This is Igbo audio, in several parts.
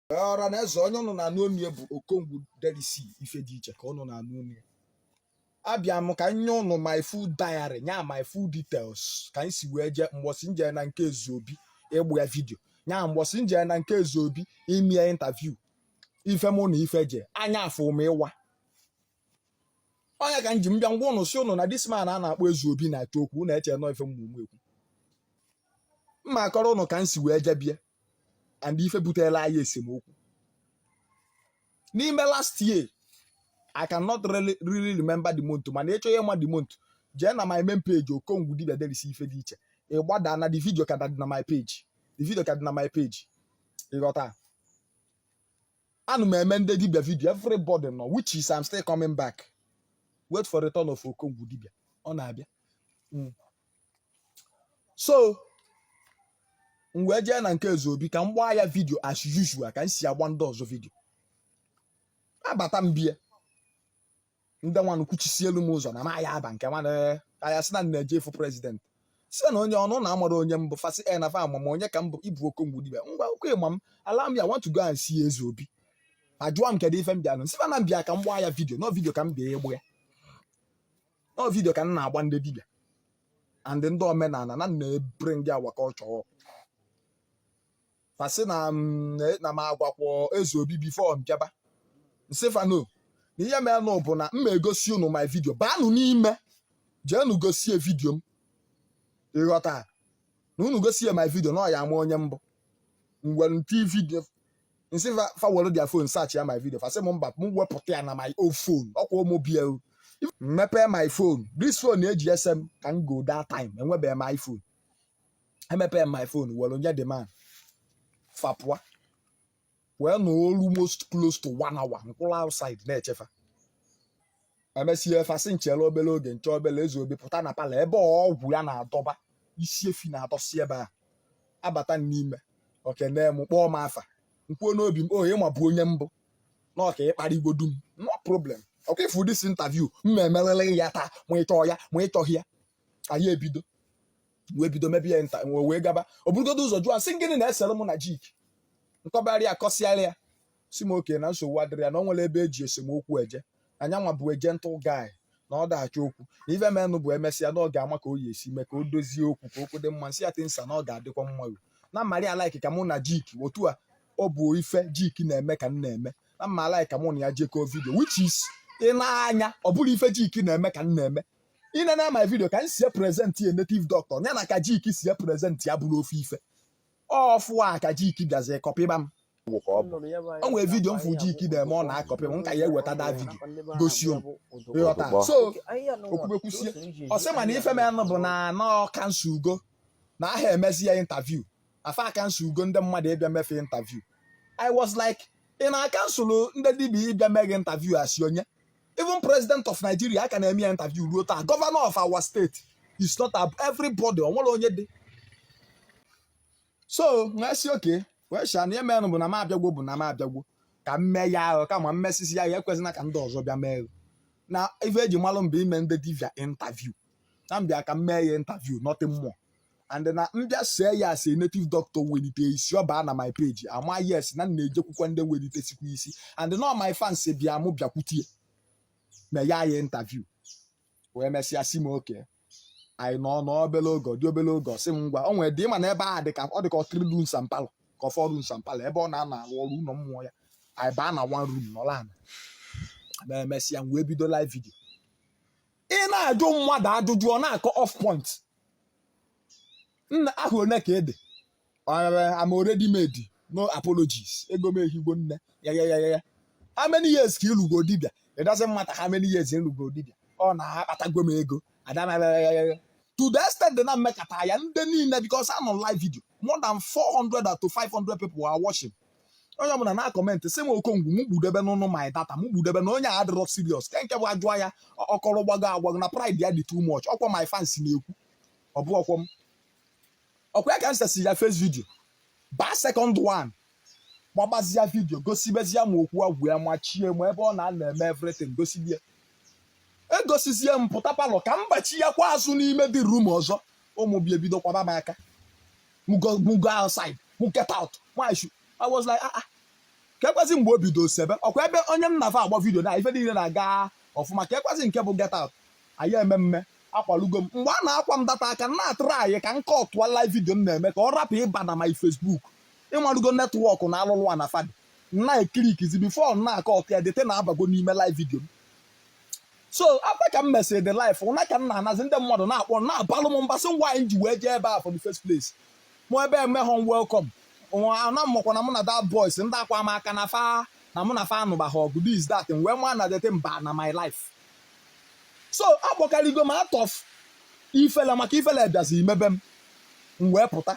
ọra na eze onye ụnụ na-anụ onu ya bụ okongwu derisi ife dị iche ka ụnụ na-anụ onu ya abịa m ka m nye ụnụ my full diary nya my full details ka m si wee jee mbọsị m je na nke ezeobi ịgba ya vidio nya mbọsị m je na nke ezeobi ime ya interview ife mụ na ife je anya afụ m ịwa onye ka m ji m bịa ngwa ụnụ si ụnụ na this man a na-akpọ ezeobi na-atụ okwu na-eche nọ ife mmụmụ ekwu m ma-akọrọ ụnụ ka m si wee jee be ya and ife butela anyị esemokwu n'ime last year I cannot really, really remember the month mana ị chọọ ịma the month jee na my main page okongwu dibia derisi ife dị iche ị gbadaa na the video ka dị na my page the video ka dị na my page ịghọta ana m eme ndị dibia vidio everybody know which is I'm still coming back wait for return of okongwu dibia ọ na-abịa hmm. so m wee jee na nke ezeobi ka m gbaa ya vidio as usual ka m si agba ndị ọzọ vidio abata m be ya ndị nwanụ kwuchisielu m ụzọ na m aya aba nke nwanụ aya sị na m na-eje ịfụ president si na onye ọnụ na amarọ onye m bụ fa sị ee na fa ama m onye ka m bụ ị bụ okongwu dibia ngwa ọkwa ị ma m allow me I want to go and see eze obi ajụwa m kedu ife m bịalụ m sị fa na m bịa ka m gbaa ya vidio na ọ vidio ka m bịa ịgba ya ọ vidio ka m na-agba ndị dibịa and ndị omenala na m na-ebure ndị awa ka ọ chọọ fa sị na na m agwakwọ eze obi before m bịaba m sị fa no na ihe merenụ bụ na m ma egosi unu my vidio baanụ n'ime jeenụ gosi ya vidio m ịghọta na unu gosi ya my vidio na ọ ya-ama onye m bụ m were nti vidio m sị fa fa were their phone searchia my video fa sị m mba m wepụta ya na my own phone okay m bịa mepee my phone this phone eji ese m ka m go that time enwebeghị m iphone emepee m my phone were nye the man fa pụa wee nọ almost close to one hour m kwụrụ outside na-eche fa emesịa fa asị m chere obere oge m chee obere eze obi pụta na parlour ebe ọgwụ ya na-adọba isi efi na-adọsi ebe a abata n'ime o kene m kpọọ m afa m kwuo n'obi m o ị mabu onye m bụ na ọka ịkpara igbo dum no problem ọkwa ị fụ this interview m ma emeriri gị ya taa ma ị chọọ ya ma ị chọghị ya anyị ebido wee bido mebe ya interview wee gaba o burugodu ụzọ jụọ m sị gịnị na-esere mụ na jik m kọbara ya kọsịara ya sị m okay na nsogbu adịrọ ya na ọ nwere ebe eji esemokwu eje anya nwa bụ eje ntụ gaị na ọ dachi okwu na ife menụ bụ emesịa na ọ ga-ama ka o ya-esi mee ka o dozie okwu ka okwu dị mma m sị ya thank sir na ọ ga-adịkwa mma o na m marị alike ka mụ na jik otu a ọ bụ ife jik na-eme ka m na-eme na m ma-alike ka mụ na ya jekọọ vidio which is ị nee anya ọ bụrọ ife jik na-eme ka m na-eme i nee na my vidio ka m si epresenti a native doctor ya na ka jik si epresenti abụrọ ofu ife ọfụ a ka jiki bịazie kọpịba m wụ ka ọ bụ o nwere vidio m fụ jiki na-eme ọ na-akọpị m nka ya eweta that vidio gosi m ịghọta so o kwube kwusie ọ sị m na ife menụ bụ na ọ kansụlugo na a ha emezi ya intaviu fa akansụlugo ndị mmadụ ịbịa mee fa intaviu i was like ị na-akansụlụ ndị dibia ịbịa mee gị intaviu as onye even president of Nigeria a ka na-eme ya interview ruo taa governor of our state is not everybody o nwere onye dị so wee sị okay wee sị ya na emenụ bụ na m abịagwo bụ na m abịagwo ka m mee ya ahụ kama m mesịsịa ya ya ekwezina ka ndị ọzọ bịa mee na ife e ji malụ m bụ ime ndị dibia interview na m bịa ka m mee ya interview nothing more and na m bịa see ya as a native doctor welite isi ọ baa na my page ama yes na m na-ejekwukwa ndị welitesikwa isi and na my fans bịa mụ bịakwutie na ya ya interview wee mesịa sị m okay anyị nọ n'obele oge dị obele oge ọ sị m ngwa o nwere dị ịma na ebe a dị ka ọ dị ka ọtụrụ lu nsampalụ ka ọfọdụ nsampalụ ebe ọ na-anọ arụ ọrụ ụlọ mmụọ ya anyị baa na one room nọlụ ana ma emesịa m wee bido live video ị na-ajụ mmadụ ajụjụ ọ na-akọ off point nna aha one ka ede am already made no apologies ego m ehigo nne ya ya ya ya how many years ka ị lụgo dibịa it doesn't matter how many years ị lụgo dibịa ọ na-akpatago m ego adamaya to the extent na m mekata ya ndị niile because a nọ live video more than 400 to 500 people are watching onye ọbụla na-akọmentị sị m okongwu m gbudebe n'ụnụ my data m gbudebe na onye a adịrọ serious ke nke bụ a jụọ ya ọ kọrọ gbago agbago na pride ya dị too much ọkwa my fans na-ekwu ọ bụ ọkwọ m ọkwa ya ka m sesi ya face video baa second one gbagbazia vidio gosibezia m okwu agwụ ya machie m ebe ọ na-anọ eme everything gosibie egosizie m pụta palọ ka m gbachiakwa azụ n'ime the rum ọzọ ụmụ bịa ebido kwaba m aka m go m go outside m get out why should I was like ah ah kekwazi mgbe o bido sebe okwu ebe onye m na fa agba vidio na ife niile na-aga ọfụma kekwazi nke bụ get out anyị eme mme akwalugo m mgbe a na-akwa m that aka m na-atraị ka m kọtụọ live vidio m na-eme ka ọ rapụ ịba na my Facebook ị malugo netwọk na alụlụ a na fa dị na-eklikizi bifo na-akọtụ ya that thing abago n'ime live vidio m so after ka m mesịrị the live ụna ka m na-anazi ndị mmadụ na-akpọ na-abalụ m mba sị ngwa anyị ji wee jee ebe a for the first place mụ ebe emeghọ m welcome ana m makwa na mụ na that boys ndị akwa m aka na fa na mụ na fa anụbaghị ọgụ this that wee ma na that thing ba na my live so a kpọkarịgo m out of ifele maka ifele bịazi mebe m m wee pụta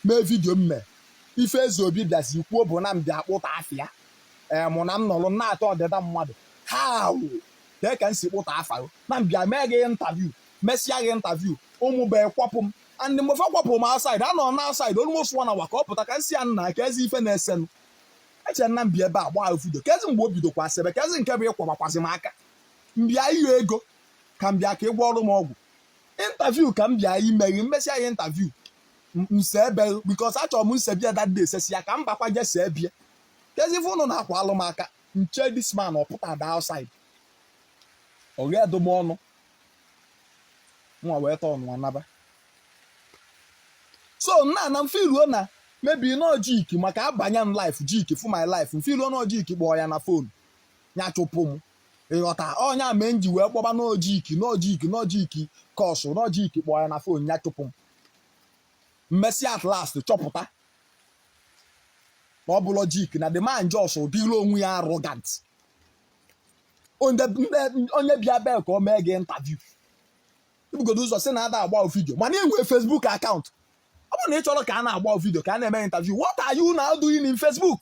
mee vidio m mee ife Ezeobi bịazi kwuo bụ na m bịa kpụta afịa ee mụ na m nọrọ na-atọ ọdịda mmadụ ha wụ dee ka m si kpụta afa gị na m bịa mee gị interview mesịa gị interview ụmụ be kwapụ m and mgbe fa kwapụrụ m outside anọ na outside almost one hour ka ọ pụta ka m sị ya nna kezi ife na-esenụ eche na m bịa ebe a gbaa video kezi mgbe o bidokwa sebe kezi nke bụ ịkwabakwazị m aka m bịa ịyọ ego ka m bịa ka ị gwọọrọ m ọgwụ interview ka m bịa ime gị m mesịa ya interview nse ebe because achọrọ m nsebie dadị esesi ya ka m bakwa je see bie kezi ife ụnụ na-akwalụ m aka nche this man ọ pụta da outside o ghedo m ọnụ nwa wee tọọ nwa naba so nna na mfe iruo na maybe nọ jiki maka abanye m live jiki fụ my live mfe iruo nọ jiki kpọọ ya na phone ya chụpụ m ị ghọta ọ nya mee m ji wee kpọba n'ojiki n'ojiki n'ojiki kọsụ n'ojiki kpọọ ya na phone ya chụpụ m m mesịa at last chọpụta na ọ bụlọ jiki na the man just dịrị onwe ya arrogant onye bịa bee ka o mee gị interview i bugodo ụzọ sị na ada agba video mana enwe Facebook account ọ bụrụ na ị chọrọ ka a na-agba video ka a na-eme gị interview what are you now doing in Facebook